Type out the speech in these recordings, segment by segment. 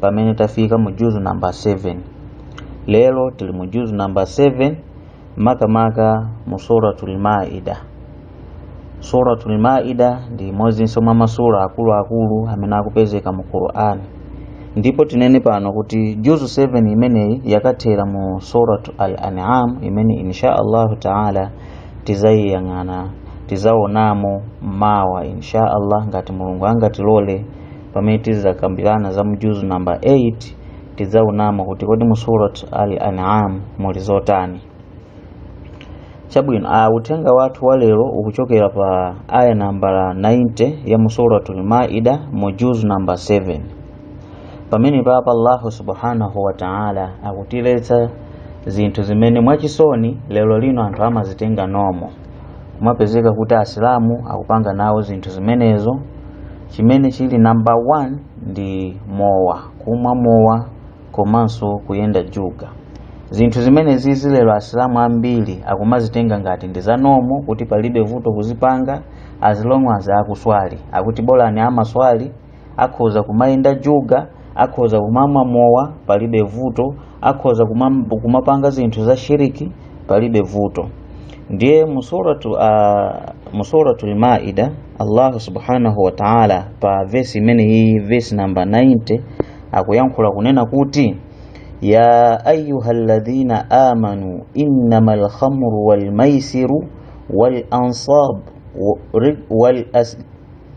pamene tafika mu juzu namba 7 lero tili mu juzu namba 7 makamaka mu suratul maida suratul maida ndi imodzinso mwa masura akuluakulu amene akupezeka mu qur'ani ndipo tinene pano kuti juzu 7 imeneyi yakathera mu suratul an'am imene insha allahu taala tizayiyang'ana tizaonamo mawa insha allah ngati mulungu angatilole pamene tizakambirana za mu juzu namba 8 tidzaonamo kuti kodi mu surat al an'am muli zotani chabwino uthenga wathu wa lero ukuchokera pa aya nambala 90 ya mu suratul maida mu juzu namba 7 pamene papa allahu subhanahu wa taala akutiletsa zinthu zimene mwachisoni lero lino anthu amazitenga nomo kumapezeka kuti asilamu akupanga nawo zinthu zimenezo Chimene chili number 1 ndi mowa, kumwa mowa komanso kuyenda juga. Zinthu zimenezizi lero Asilamu ambiri akumazitenga ngati ndi za normal kuti palibe vuto kuzipanga as long as akuswali. Akuti bolani amaswali, akhoza kumayenda juga, akhoza kumamwa mowa, palibe vuto. akhoza kumam- kumapanga zinthu za shiriki palibe vuto ndiye musuratu uh, musuratu lmaida allahu subhanahu wa taala pa vesi imene iyi vesi namba 90 akuyankhula kunena kuti ya ayuha ladhina amanu innama lkhamru walmaisiru walansabu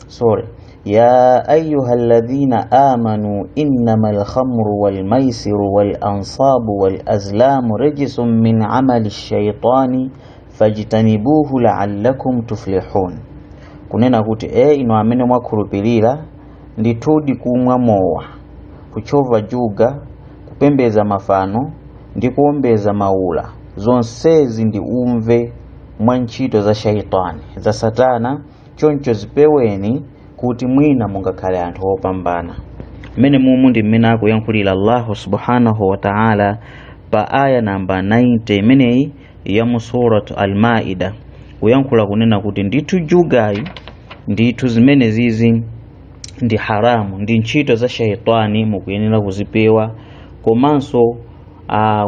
sorry ya ayuha ladhina amanu innama lkhamru walmaisiru walansabu walazlamu rijisun min amali shaitani fajtanibuhu laalakum tuflihun kunena kuti e inu amene mwakhulupirira ndithudi kumwa mowa kutchova juga kupembedza mafano ndi kuombeza maula zonsezi ndi uve mwa ntchito za shaitani za satana choncho zipeweni kuti mwina mungakhale anthu opambana mmene mumu ndi mmene akuyankhulira allahu subhanahu wa taala pa aya namba 90 imeneyi ya mu surat almaida kuyankhula kunena kuti ndithu jugayi ndithu zimene zizi ndi haramu ndi ntchito za shaitani mukuyenera kuzipewa komanso ah,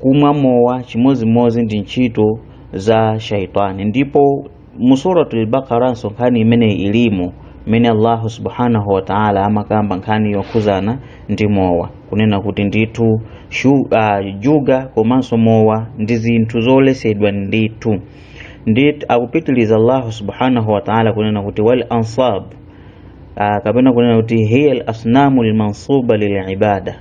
kumwa mowa chimodzimodzi ndi ntchito za shaitani ndipo mu suratul baqara nso nkhani imene ilimo imene allahu subhanahu wa ta'ala amakamba nkhani yokhuzana ndi mowa kunena kuti ndithu juga komanso mowa ndi zinthu zoletsedwa ndithu ndithu akupitiliza allahu subhanahu wa ta'ala kunena kuti wal ansab uh, kapena kunena kuti hiya al asnamu lmansuba lilibada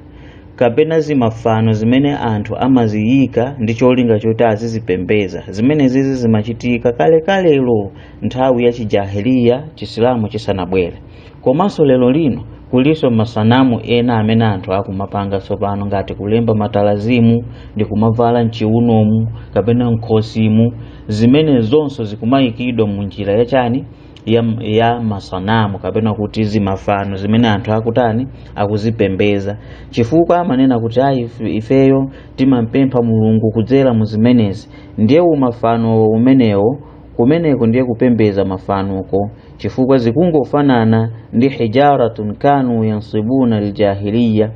kapena zimafano zimene anthu amaziyika ndi cholinga choti azizipembeza zimenezizi zimachitika kalekalelo nthawi ya chijahiliya chisilamu chisanabwere komanso lero lino kulinso masanamu ena amene anthu akumapanga tsopano ngati kulemba matalazimu ndi kumavala mchiunomu kapena mkhosimu zimene zonso zikumayikidwa mu njira yachani ya, ya masanamu kapena kuti zimafano zimene anthu akutani akuzipembeza chifukwa amanena kuti ayi ifeyo timampempha mulungu kudzera mu zimenezi ndiye umafano umenewo kumeneko ndiye kupembeza mafanoko chifukwa zikungofanana ndi hijaratun kanu yansibuna aljahiliya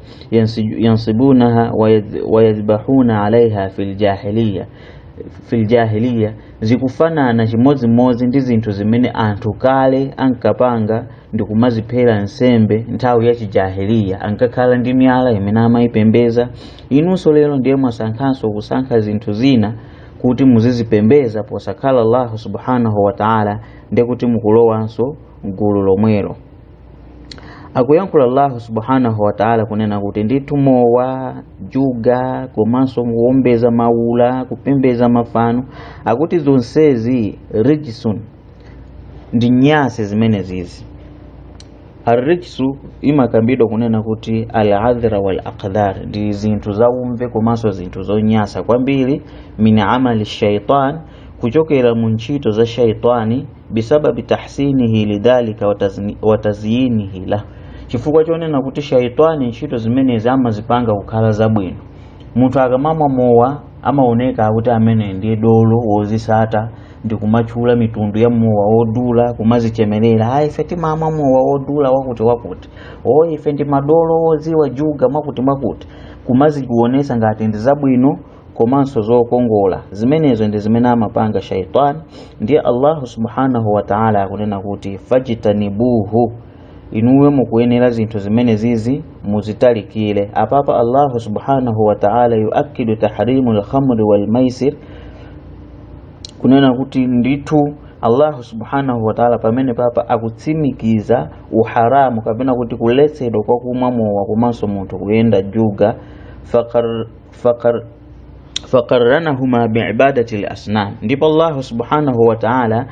yansibunaha wayadhbahuna alaiha fi ljahiliya Zikufanana chimodzimodzi ndi zinthu zimene anthu kale ankapanga ndi kumaziphera nsembe nthawi ya chijahiliya. Ankakhala ndi miyala imene amayipembeza. Inunso lero ndiye mwasankhanso kusankha zinthu zina kuti muzizipembeza posakhala Allahu subhanahu wa ta'ala, ndiye kuti mukulowanso m'gulu lomwelo. akuyankhula allahu subhanahu wataala kunena kuti ndithu mowa juga komanso kuombeza maula kupembeza mafano akuti zonsezi rijisun ndi nyasi zimenezizi arrijsu imakambidwa kunena kuti aladhra wal aqdhar ndi zinthu zaumve komanso zinthu zonyasa kwambiri min amali shaitan kuchokera mu ntchito za shaitani bisababi tahsinihi lidhalika wa tazyinihi la chifukwa chonena kuti shaitani ntchito zimenezi amazipanga kukhala zabwino munthu akamamwa mowa amaoneka kuti amene ndiye dolo wozisata ndi kumatchula mitundu ya mowa wodula kumazichemerera ayi ife timamwa mowa wodula wakuti wakuti o ife ndi madolo wodziwa juga mwakuti mwakuti kumazikuonesa ngati ndi zabwino komanso zokongola zimenezo ndi zimene amapanga shaitani ndiye allahu subhanahu wa taala akunena kuti fajtanibuhu inuyo mukuyenera zinthu zimene zizi muzitalikire apapa allahu subhanahu wa taala yuakidu tahrimu lkhamri walmaisir kunena kuti ndithu allahu subhanahu wa taala pamene papa akutsimikiza uharamu kapena kuti kuletsedwa kwa kumwa mowa komanso munthu kuyenda juga fakar faqar faqarranahuma biibadati lasnam ndipo allahu subhanahu wa taala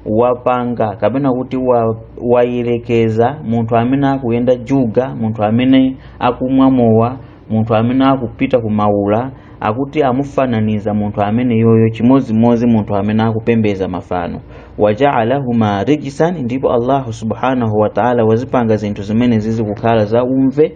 wapanga kapena kuti wa- wayerekeza munthu amene akuyenda juga munthu amene akumwa mowa munthu amene akupita kumaula akuti amufananiza munthu ameneyoyo chimodzimodzi munthu amene akupembeza mafano wajaalahuma rijisan ndipo allahu subhanahu wa taala wazipanga zinthu zimenezizi kukhala za umve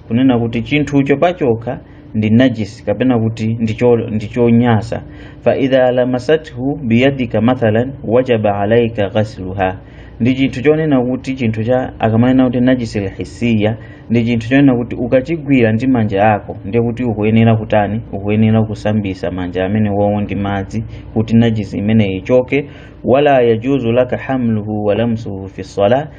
kunena kuti chinthucho pachokha ndi najis kapena kuti ndicho- ndichonyasa fa idha lamasathu biyadika mathalan wajaba alaika ghasluha ndi chinthu chonena kuti chinthu cha akamanena kuti najisi lhisiya ndi chinthu chonena kuti ukachigwira ndi manja ako ndiye kuti ukuyenera kutani ukuyenera kusambisa manja amenewowo ndi madzi kuti najisi imeneyi ichoke wala yajuzu laka hamluhu walamsuhu fi salah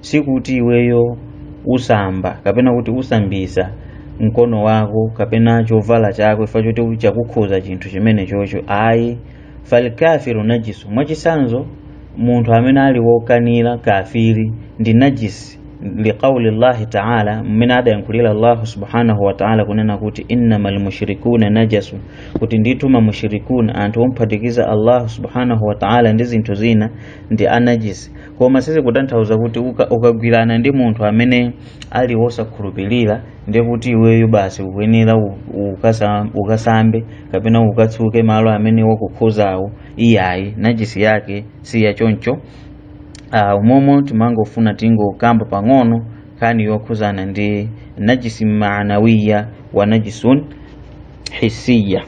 sikuti iweyo usamba kapena kuti usambisa mkono wako kapena chovala chako ifa choti chakukhuza chinthu chimenechocho ayi falkafiru najisu mwachisanzo munthu amene ali wokanira kafiri ndi najisi liqauli llahi taala mmene adayankhulira allahu subhanahu wataala kunena kuti innama lmushrikuna najasu kuti ndithu mamushrikuna anthu omphatikiza allahu subhanahu wataala ndi zinthu zina ndi anajisi koma sizikutanthauza kuti uka- ukagwirana ndi munthu amene ali wosakhulupirira ndiye kuti iweyo basi ukuyenera u- ukasa- ukasambe kapena ukatsuke malo amene wakukhuzawo iyayi najisi yake si ya choncho uh, umomu timangofuna tingokamba pang'ono nkhani yokhuzana ndi najisi maanawiya wa najisun hisiya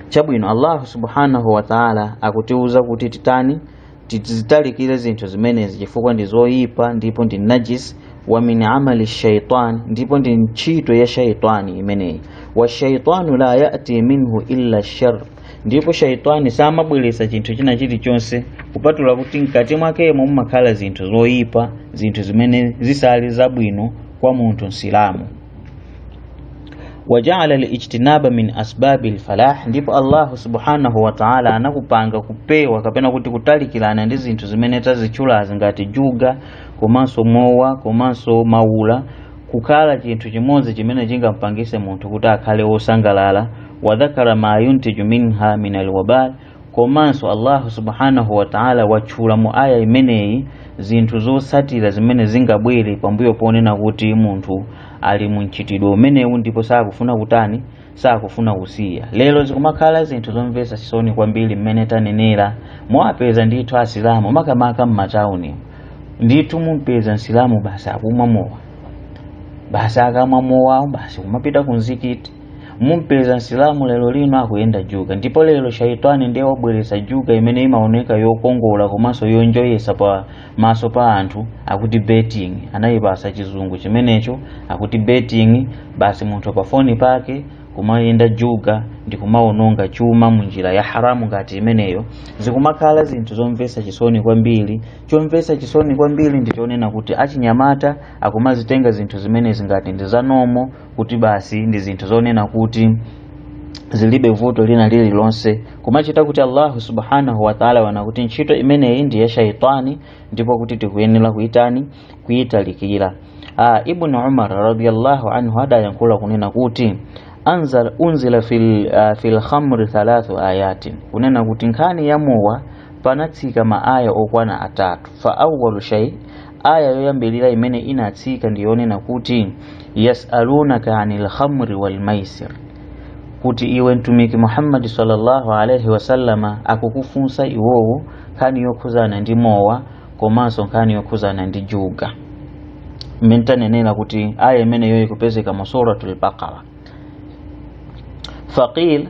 chabwino allahu subhanahu wataala akutiwuza kuti titani tizitalikire zinthu zimenezi chifukwa ndi zoyipa ndipo ndi najis wa min amali shaitan ndipo ndi ntchito ya shaitani imeneyi wa shaitanu la yati minhu illa shar ndipo shaitani samabweretsa chinthu china chilichonse kupatula kuti mkati mwakemo mumakhala zinthu zoyipa zinthu zimene zisali zabwino kwa munthu msilamu waja'ala al-ijtinaba min asbabil falah ndipo Allah subhanahu wa ta'ala anakupanga kupewa kapena kuti kutalikirana ndi zinthu zimene tazitchulazi ngati juga komanso mowa komanso maula kukhala chinthu chimodzi chimene chingampangise munthu kuti akhale wosangalala wadhakara ma yuntiju minha min alwabal komanso allahu subhanahu wataala watchula mu aya imeneyi zinthu zotsatira zimene zingabwere pambuyo ponena kuti munthu ali mu mchitidwe umenewu ndipo sakufuna kutani sakufuna kusiya lero zikumakhala zinthu zomvetsa chisoni kwambiri mmene tanenera muwapeza ndithu asilamu makamaka m'matawuni ndithu mumpeza msilamu basi akumwa mowa basi akamwa mowawo basi kumapita ku mzikiti mumpeza msilamu lero lino akuyenda juga ndipo lero shaitani ndiye wabweretsa juga imene imaoneka yokongola komanso yonjoyesa pa maso pa anthu akuti betting anayipasa chizungu chimenecho akuti betting basi munthu pa foni pake kumayenda juga ndi kumaononga chuma munjira ya haramu ngati imeneyo zikumakhala zinthu zomvetsa chisoni kwambiri chomvetsa chisoni kwambiri ndi chonena kuti achinyamata akumazitenga zinthu zimenezi ngati ndi zanomo kuti basi ndi zinthu zonena kuti zilibe vuto lina lililonse kumachita kuti allahu subhanahu wataala wanena kuti ntchito imeneyi ndi ya shaitani ndipo kuti tikuyenera kuitani kuitalikira ah, ibnu umar radiallahu anhu adayankhula kunena kuti anzal, unzila fil, uh, fil khamri thalathu ayatin kunena kuti nkhani ya mowa panatsika maaya okwana atatu fa awalu shay aya yoyambirira imene inatsika ndi yonena kuti yasalunaka anil khamri wal maisir kuti iwe mtumiki muhammadi sallallahu alaihi wasallama akukufunsa iwowo nkhani yokhuzana ndi mowa komanso nkhani yokhuzana ndi juga mmene tanenera kuti aya imeneyo ikupezeka mu suratul baqara faqila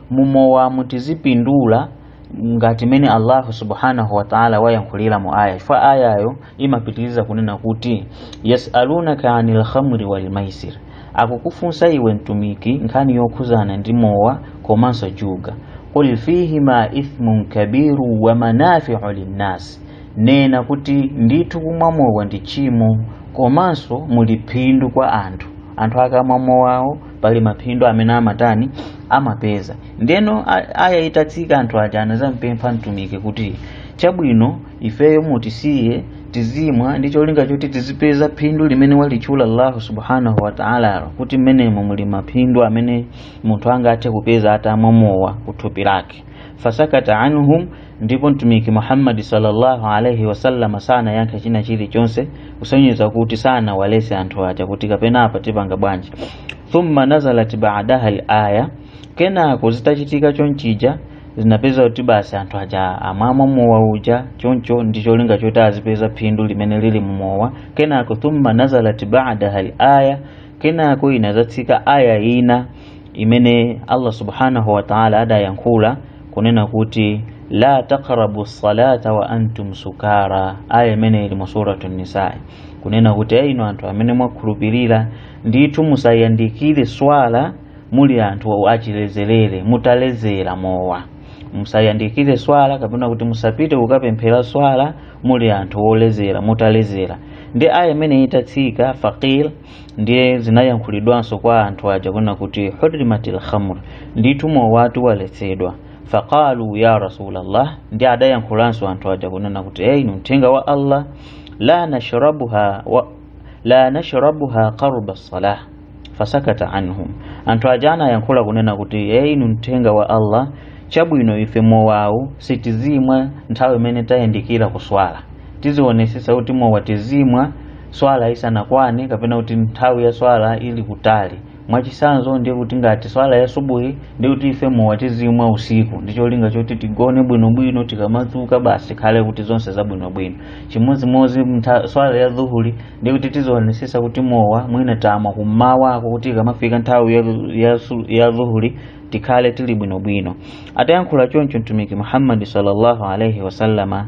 mumowa mutizipindula ngati mene allahu subhanahu wataala wayankhulira mu aya chifukwa ayayo imapitiriza kunena kuti yasalunaka ani lhamri walmaisir akukufunsa iwe mtumiki nkhani yokhuzana ndi mowa komanso juga qul fihima ithmun kabiru wa manafiu linnasi nena kuti ndithu kumwa mowa ndi chimo komanso muli phindu kwa anthu anthu akamwa mowawo pali maphindu amene amatani amapeza ndeno a- aya itatsika anthu aja anazampempha mtumiki kuti chabwino ifeyo mutisiye tizimwa ndi cholinga choti tizipeza phindu limene walitchula allahu subhanahu wataala kuti mmenemo muli maphindu amene munthu angathe kupeza atamwa mowa kuthupi lake fasakata anhum ndipo mtumiki muhammadi sallallahu alaihi wasallama sanayankha china chilichonse kusonyeza kuti sanawalese anthu aja kuti kapena apa tipanga bwanji thumma nazalat badaha laya kenako zitachitika chonchija zinapeza kuti basi anthu aja amamwa mowa uja choncho ndi cholinga choti azipeza phindu limene lili mumowa kenako thumma nazalat badaha laya kenako inazatsika aya ina imene Allah subhanahu wa ta'ala adayankhula kunena kuti la taqrabu salata wa antum sukara, aya imene ili mu suratu Nisaa kunena kuti inu anthu amene mwakhulupirira ndithu musayandikire swala muli anthu achilezerere mutalezera mowa musayandikire swala kapena kuti musapite kukapemphera swala muli anthu olezera mutalezera ndi aya imeneyi itatsika faqila ndiye zinayankhulidwanso kwa anthu aja kunena kuti hurrimatil khamr ndithu mowatu waletsedwa faqalu ya rasulallah ndiye adayankhulanso anthu aja kunena kuti eyi inu mthenga wa allah la nashrabuha wa la nashrabuha qarba salah fasakata anhum anthu aja anayankhula kunena kuti eyi inu mthenga wa allah chabwino ife mowawu sitizimwa nthawi imene tayandikira kuswala tizionesesa kuti mowa tizimwa swala isanakwane kapena kuti nthawi ya swala ili kutali mwachisanzo ndiye kuti ngati swala ya subuhi ndiye kuti ife mowa tizimwa usiku ndi cholinga choti tigone bwinobwino tikamadzuka basi ikhale kuti zonse zabwinobwino chimodzimodzi mtha- swala ya dhuhuli ndiye kuti tizionesesa kuti mowa mwina tamwa kummawako kuti ikamafika nthawi ya, ya, su- ya dhuhuli tikhale tili bwinobwino atayankhula choncho mtumiki muhammadi sallallahu alaihi wasallama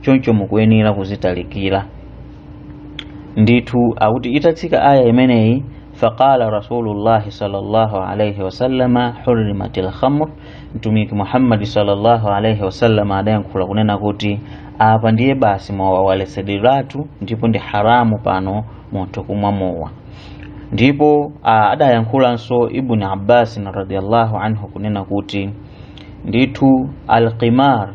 choncho mukuyenera kuzitalikira ndithu akuti itatsika aya imeneyi faqala rasulullahi sallallahu alaihi wasallama hurrimatil khamr mtumiki muhammadi sallallahu alaihi wasallama adayankhula kunena kuti apa ndiye basi mowa waletsedweratu ndipo ndi haramu pano munthu kumwa mowa ndipo ah, adayankhulanso ibni abbasin radiallahu anhu kunena kuti ndithu alqimar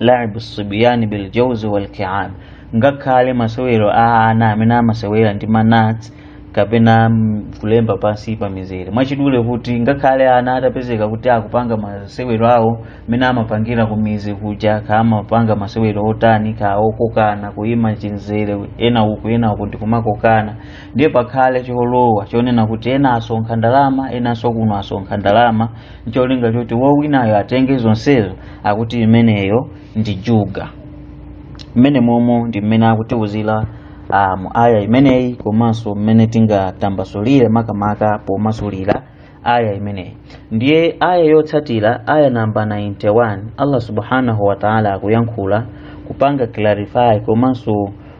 laibu sibiyani biljauzi walkiab ngakhale masewero a ana amene amasewera ndi manats kapena mm, kulemba pansi pa mizere mwachidule kuti ngakhale ana atapezeka kuti akupanga masewero awo mmene amapangira ku mizi kuja ka amapanga masewero otani ka okokana kuyima chinzere ena uku ena uku ndikumakokana ndiye pakhale cholowa chonena kuti ena asonkha ndalama enanso kuno asonkha ndalama ncholinga choti wowinayo atenge zonsezo akuti imeneyo ndi juga mmenemomo ndi mmene akutiuzira uh, mu aya imeneyi komanso mmene tingatambasulire makamaka pomasulira aya imeneyi ndiye aya yotsatira aya namba 91 allah subhanahu wa taala akuyankhula kupanga clarify komanso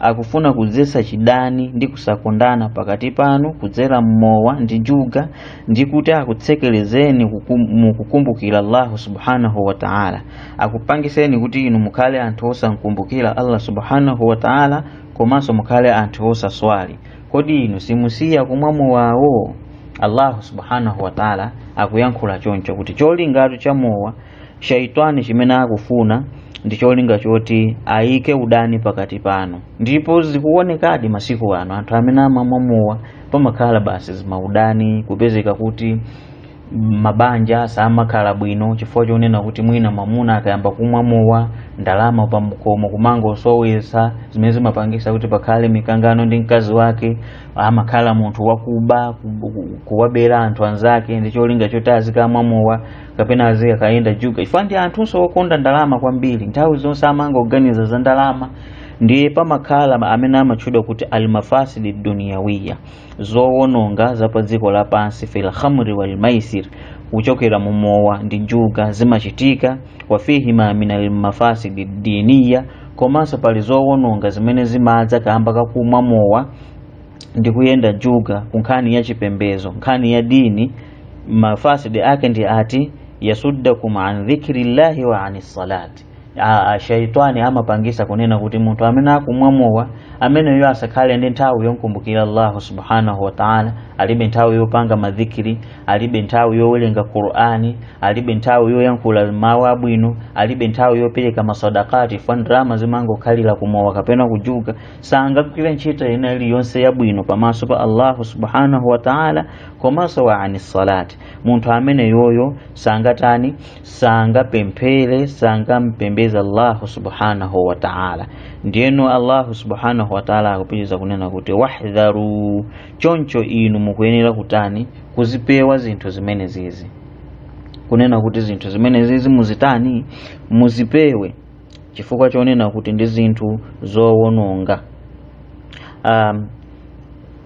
akufuna kudzetsa chidani ndi kusakondana pakati panu kudzera mmowa ndi juga ndi kuti akutsekerezeni kukum- mu kukumbukira allahu subhanahu wa taala akupangiseni kuti inu mukhale anthu osankumbukira allah subhanahu wa taala komanso mukhale anthu osaswali kodi inu simusiya kumwa mowawo allahu subhanahu wa taala akuyankhula choncho kuti cholingatu cha mowa shaitani chimene akufuna ndi cholinga choti ayike udani pakati pano ndipo zikuonekadi masiku ano anthu amene amamwa mowa pamakhala basi zimaudani kupezeka kuti mabanja samakhala bwino chifukwa chonena kuti mwina mwamuna akayamba kumwa mowa ndalama pakhomo kumangosowetsa zimene zimapangisa kuti pakhale mikangano ndi mkazi wake amakhala munthu wakuba ku- ku- kuwabera anthu anzake ndi cholinga choti azikamwa mowa kapena azikayenda juga chifukwa ndi anthunso okonda ndalama kwambiri nthawi zonse amangoganiza za ndalama ndiye pamakhala ma- amene amatchedwa kuti almafasidi duniyawiya zowononga za pa dziko lapansi fil khamri wal maisir kuchokera mu mowa ndi juga zimachitika wafihima min almafasidi diniya komanso pali zowononga zimene zimadza kamba kakumwa mowa ndi kuyenda juga ku nkhani ya chipembezo nkhani ya dini mafasidi ake ndi ati yasuddakum an dhikrillahi wa ani salati shaitani amapangisa kunena kuti munthu amene akumwa mowa ameneyo asakhale ndi nthawi yomkumbukira allahu subhanahu wataala alibe nthawi yopanga madhikiri alibe nthawi yowerenga qur'ani alibe nthawi yoyankhula mawu abwino alibe nthawi yopereka masadakati chifukwa ndalama zimangokhalira kumowa kapena kujuga sangagwire ntchito ina iliyonse yabwino pamaso pa allahu subhanahu wataala komanso wa ani salati munthu amene yoyo sangatani sangapemphere sangampembeze allahu subhanahu wa taala ndiyeno allahu subhanahu wa taala akupitiriza kunena kuti wahdharu choncho inu mukuyenera kutani kuzipewa zinthu zimene zizi kunena kuti zinthu zimene zizi muzitani muzipewe chifukwa chonena kuti ndi zinthu zowononga um,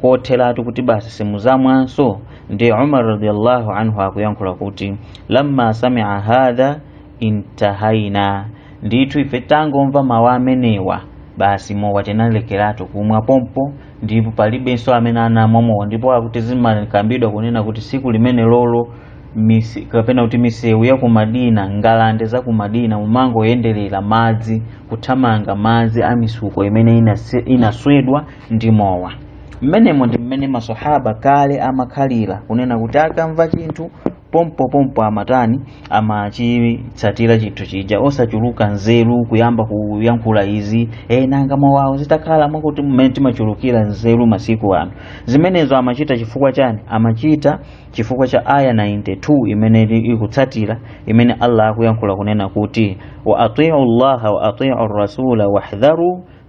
kotheratu kuti basi simuzamwanso ndi umar radiallahu anhu akuyankhula kuti lamma samia hadha intahaina ndithu ife tangomva mawu amenewa basi mowa tinalekeratu kumwa pompo ndipo palibenso amene anamwa mowa ndipo akuti zimakambidwa kunena kuti tsiku limene lolo misi, kapena kuti misewu ya kumadina ngalande za kumadina mumangoyenderera madzi kuthamanga madzi a misuko imene inase- inaswedwa ndi mowa mmenemo ndi mmene maswahaba kale amakhalira kunena kuti akamva chinthu pompo pompo amatani amachitsatira chinthu chija osachuluka nzeru kuyamba kuyankhula izi e, nanga mowawo zitakhala mwakuti mmene timachulukira nzeru masiku ano zimenezo amachita chifukwa chani amachita chifukwa cha aya 92 imene ili- ikutsatira imene allah akuyankhula kunena kuti wa atiu llaha wa atiu rasula wahdharu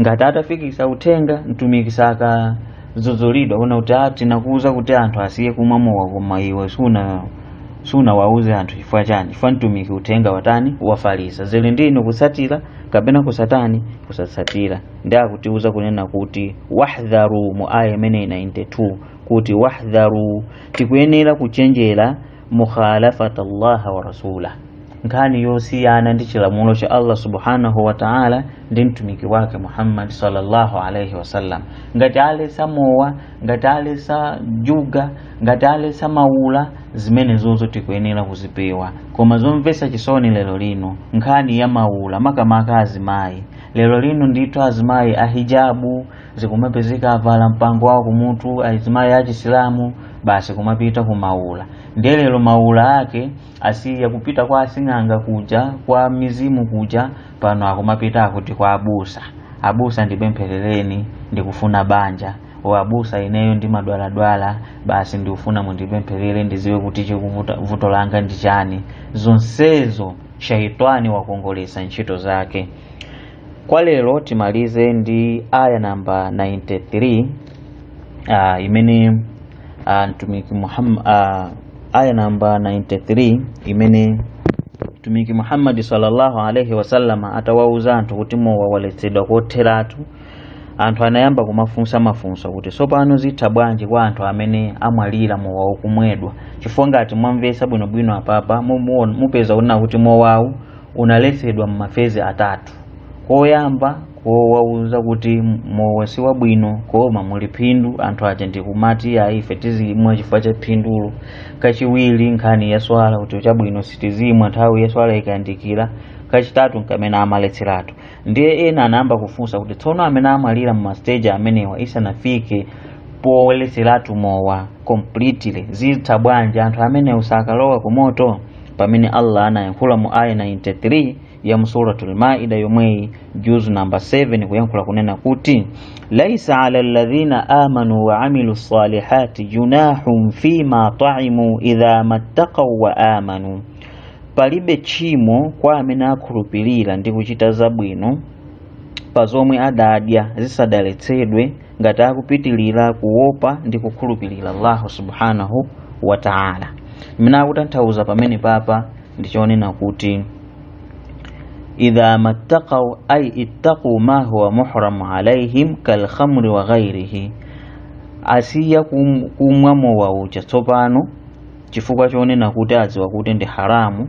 ngati atafikisa uthenga mtumiki sakadzudzulidwa kunena kuti tinakuuza kuti anthu asiye kumwa mowa koma iwe suna sunawauze anthu chifukwa chani chifukwa mtumiki uthenga watani wafalisa zili ndi inu kutsatira kapena kusatani kusatsatira ndi akutiuza kunena kuti wahdharu mu aya imene 92 kuti wahdharu tikuyenera kuchenjera mukhalafata llaha wa rasulah nkhani yosiyana ndi chilamulo cha allah subhanahu wa taala ndi mtumiki wake muhammad sallallahu alaihi wasallam ngati aletsa mowa ngati aletsa juga ngati aletsa maula zimenezozo tikuyenera kuzipewa koma zomvetsa chisoni lero lino nkhani ya maula makamaka azimayi lero lino ndithu azimayi ahijabu zikumapezeka avala mpango wawo kumutu azimayi achisilamu basi kumapita kumaula ndiye lero maula ake asiya kupita kwa asing'anga kuja kwa mizimu kuja pano akumapita akuti kwa abusa abusa ndipempherereni ndikufuna banja o abusa ineyo ndimadwaladwala basi ndikufuna mundipempherere ndidziwe kuti chikuvuta vuto langa ndi chani zonsezo shaitani wakongolesa ntchito zake Kwa lero timalize ndi aya namba 93 uh, imene uh, mtumiki Muhammad uh, aya namba 93 imene mtumiki Muhammad sallallahu alaihi wasallam atawauza anthu kuti mowa waletsedwa kotheratu anthu anayamba kumafunsa mafunso kuti tsopano zitha bwanji kwa anthu amene amwalira mowa ukumwedwa chifukwa ngati mwamvetsa bwinobwino apapa mupeza kunena kuti mowawu unaletsedwa m'mafezi atatu koyamba kowauza kuti mowa si wabwino koma muli phindu anthu aja ndikumati ayi ife tizimwa chifukwa cha phindulo kachiwiri nkhani ya swala kuti chabwino sitizimwa nthawi ya swala ikayandikira kachitatu nkamene amaletseratu ndiye ena anayamba kufunsa kuti tsono amene amwalira m'masteji amenewa isanafike poletseratu mowa completely zitha bwanji anthu amenewo sakalowa kumoto pamene Allah anayankhula mu aya 93 ya mu suratul maida yomweyi juzu namba 7 kuyankhula kunena kuti laisa ala alladhina amanu wa amilu salihati junahun fiima taimu idha mattaqau wa amanu palibe tchimo kwa amene akhulupirira ndi kuchita zabwino pa zomwe adadya zisadaletsedwe ngati akupitilira kuopa ndi kukhulupirira allahu subhanahu wa taala mmene akutanthauza pamenepapa ndi chonena kuti idha mattaqau ay ittaqu ma huwa muhramu alaihim kalkhamri wa ghairihi asiya kum- kumwa mowa uja tsopano chifukwa chonena kuti adziwa kuti ndi haramu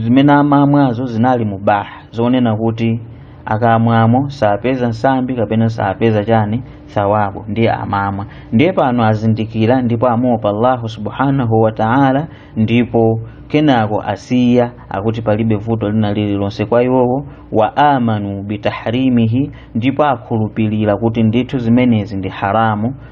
zimene amamwazo zinali mubaha zonena kuti akamwamo sapeza nsambi kapena sapeza chani thawabu ndiye amamwa ndiye pano azindikira ndipo amuopa allahu subhanahu wa taala ndipo kenako asiya akuti palibe vuto lina lililonse kwa iwowo wa amanu bitahrimihi ndipo akhulupirira kuti ndithu zimenezi ndi haramu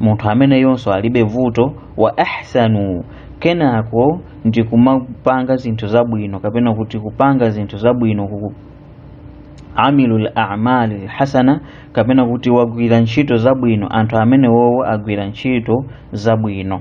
munthu ameneyonso alibe vuto wa ahsanu kenako ndi kumapanga zinthu zabwino kapena kuti kupanga zinthu zabwino ku amilul a'malil hasana kapena kuti wagwira ntchito zabwino anthu amene wowo agwira ntchito zabwino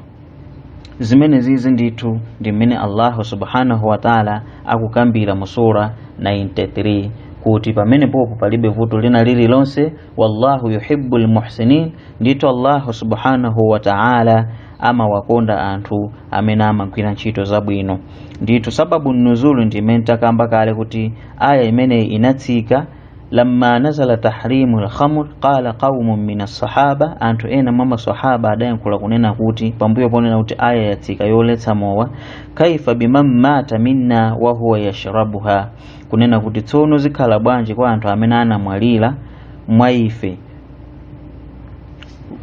zimene zizi ndithu ndi mmene allahu subhanahu wataala akukambira mu sura 93 kuti pamenepopo palibe vuto lina lililonse wallahu yuhibbu lmuhsinin ndithu allahu subhanahu wa taala amawakonda anthu amene amagwira ntchito zabwino ndithu sababu nuzulu ndi imene takamba kale kuti aya imeneyi inatsika lamma nazala tahrimu lkhamr qala qaumun min assahaba anthu ena mwa masahaba adayankhula kunena kuti pambuyo ponena kuti aya yatsika yoletsa mowa kaifa biman mata minna wahuwa yashrabuha kunena kuti tsono zikhala bwanji kwa anthu amene anamwalira mwa ife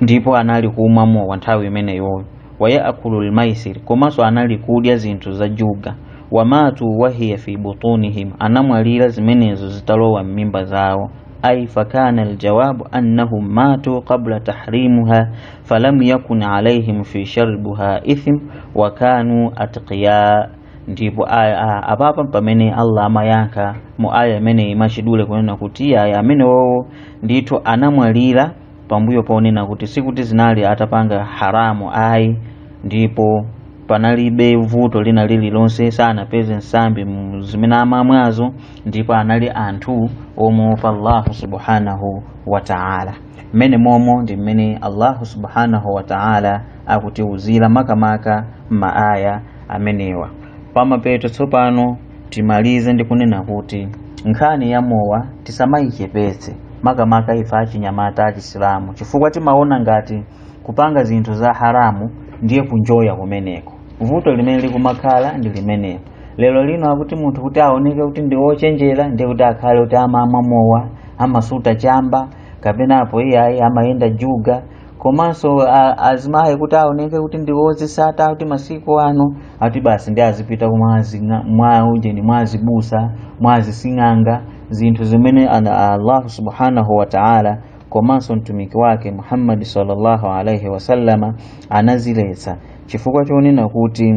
ndipo anali kumwa mowa nthawi imeneyoyo wayaakulu lmaisir komanso anali kudya zinthu za juga wamatu wahiya fi butunihim anamwalira zimenezo zitalowa m'mimba zawo ai fakana aljawabu annahum matu qabla tahrimiha falam yakun alaihim fi shurbiha ithm wa kanu atqiya ndipo aya a- apapa pamene allah amayankha mu aya imeneyi mwachidule kunena kuti iyayi amenewowo ndithu anamwalira pambuyo ponena kuti sikuti zinali atapanga haramu ayi ndipo panalibe vuto lina lililonse sanapeze nsambi mu zimene amamwazo ndipo anali anthu omuopa allahu subhanahu wa taala mmene momo ndi mmene allahu subhanahu wa taala akutiuzira makamaka m'maaya amenewa pamapeto tsopano timalize ndi kunena kuti nkhani ya mowa tisamayichepetse makamaka ife achinyamata achisilamu chifukwa timaona ngati kupanga zinthu za haramu ndiye kunjoya kumeneko vuto limene likumakhala ndi limeneko lero lino akuti munthu kuti aoneke kuti ndi wochenjera ndiye kuti akhale kuti amamwa mowa amasuta chamba kapena apo iyayi amayenda juga komanso a- azimayi kuti aoneke kuti ndiwozisata kuti masiku ano ati basi ndi azipita ku mwa azi- mwa ujeni mwa azibusa mwa azising'anga zinthu zimene ana- allahu subhanahu wa taala komanso mtumiki wake muhammadi sallallahu alaihi wasallama anaziletsa chifukwa chonena kuti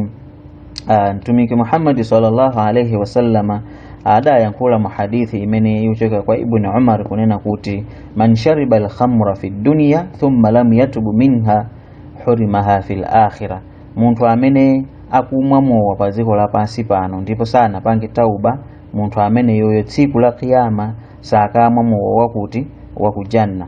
ah, mtumiki muhammadi sallallahu alaihi wasallama adayankhula mu hadithi imene yochoka kwa ibnu umar kunena kuti man shariba alkhamra fi dunya thumma lam yatubu minha hurimaha fi lakhira munthu amene akumwa mowa pa dziko lapansi pano ndipo sanapange tauba munthu ameneyoyo tsiku la kiyama sakamwa mowa wakuti wakujanna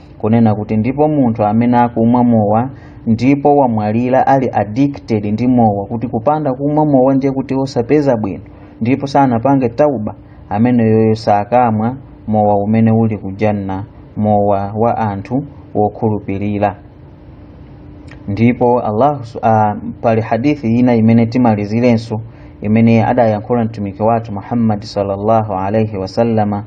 kunena kuti ndipo munthu amene akumwa mowa ndipo wamwalira ali addicted ndi mowa kuti kupanda kumwa mowa ndiye kuti osapeza bwino ndipo sanapange tauba ameneyoyo sakamwa mowa umene uli kujanna mowa wa anthu wokhulupirira ndipo allahu pali hadithi ina imene timalizirenso imene adayankhula mtumiki wathu muhammadi sallallahu alaihi wasallama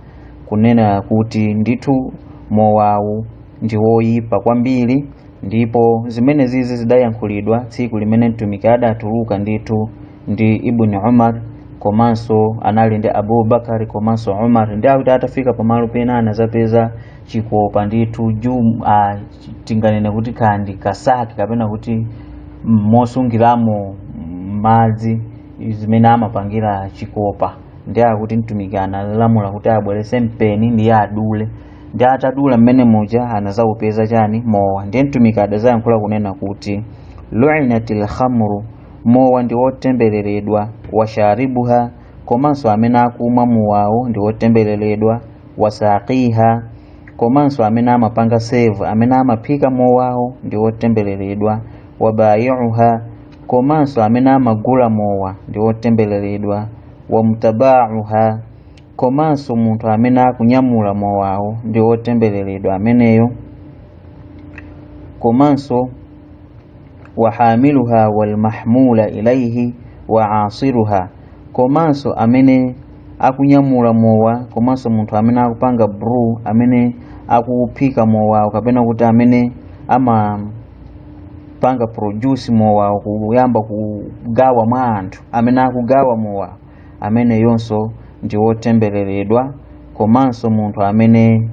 kunena kuti ndithu mowawu ndi woyipa kwambiri ndipo zimene zizi zidayankhulidwa tsiku limene mtumiki adatuluka ndithu ndi ibni umar komanso anali ndi abubakari komanso umar ndi akuti atafika pamalo pena anazapeza chikopa ndithu jum ah, tinganene kuti kandi kasaki kapena kuti mosungiramo madzi zimene amapangira chikopa ndi akuti mtumiki analamula kuti abwerese mpeni ndiye adule ndi atadula mmene muja anazawupeza chani mowa ndiye mtumiki adazayankhula kunena kuti luinatil khamru mowa ndi wotembereredwa washaribuha komanso amene akumwa mowawo ndi wotembereredwa wasaqiha komanso amene amapanga serve amene amaphika mowawo ndi wotembereredwa wabayiuha komanso amene amagula mowa ndi wotembereredwa wamutabauha komanso munthu amene akunyamula mowawo ndi wotembereredwa ameneyo komanso wahamiluha walmahmula ilaihi wa asiruha komanso amene akunyamula mowa komanso munthu amene akupanga brew amene akuphika mowawo kapena kuti amene ama panga produce mowawo kuyamba kugawa mwa anthu amene akugawa mowawo ameneyonso ndi wotembereredwa komanso munthu amene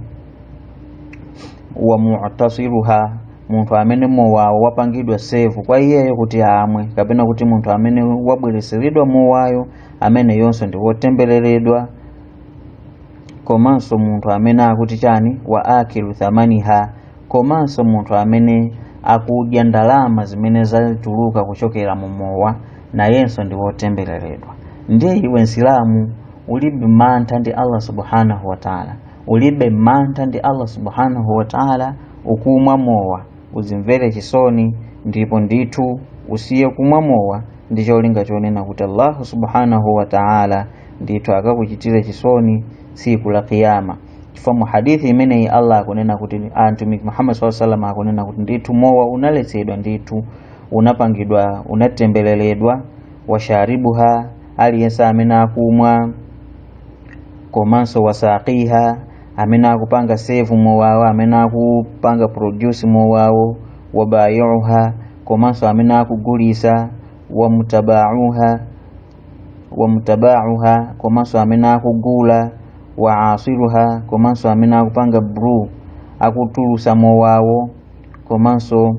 wa mu'tasiruha munthu amene mowawo wapangidwa serve kwa iyeyo kuti amwe kapena kuti munthu amene wabwereseredwa mowayo ameneyonso ndi wotembereredwa komanso munthu amene akuti chani wa akilu thamaniha komanso munthu amene akudya ndalama zimene zatuluka kuchokera mu mowa nayenso ndi wotembereredwa ndiye iwe msilamu ulibe mantha ndi allah subhanahu wataala ulibe mantha ndi allah subhanahu wataala ukumwa mowa uzimvere chisoni ndipo ndithu usiye kumwa mowa ndi cholinga chonena kuti allahu subhanahu wataala ndithu akakuchitire chisoni tsiku la kiyama chifukwa mu hadithi imeneyi allah akunena kuti ah, mtumiki muhammad saa salam akunena kuti ndithu mowa unaletsedwa ndithu unapangidwa unatembeleredwa washaribuha aliyense amene akumwa komanso wasaqiha amene akupanga serve mowawo amene akupanga produce mowawo wabayiuha komanso amene akugulisa wamutabauha wa mutabauha komanso amene akugula wa asiruha komanso amene akupanga brew akutulusa mowawo komanso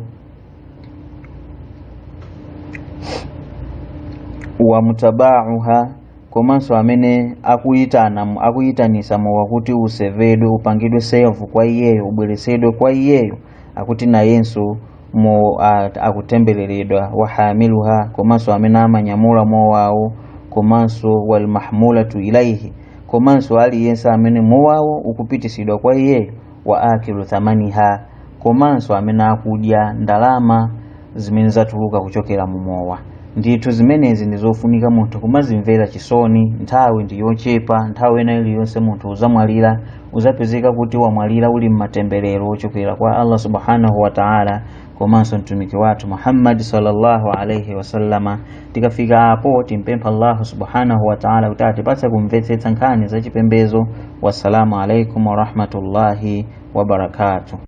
wa mutabauha komanso amene akuyitana akuyitanisa mowa kuti usevedwe upangidwe serve kwa iyeyo ubweresedwe kwa iyeyo akuti nayenso mu a- akutembereredwa wahamiluha komanso amene amanyamula mowawo komanso walmahmulatu ilaihi komanso aliyense amene mowawo ukupitisidwa kwa iyeyo wa akilu thamaniha komanso amene akudya ndalama zimene zatuluka kuchokera mu mowa ndithu zimenezi ndi zofunika munthu kumazimvera chisoni nthawi ndi yochepa nthawi ina iliyonse munthu uzamwalira uzapezeka kuti wamwalira uli mmatemberero ochokera kwa Allah subhanahu wa ta'ala komanso mtumiki wathu Muhammad sallallahu alaihi wasallama tikafika apo timpempha Allah subhanahu wa ta'ala kuti atipatse kumvetsetsa nkhani za chipembezo wassalamu alaikum warahmatullahi wabarakatuh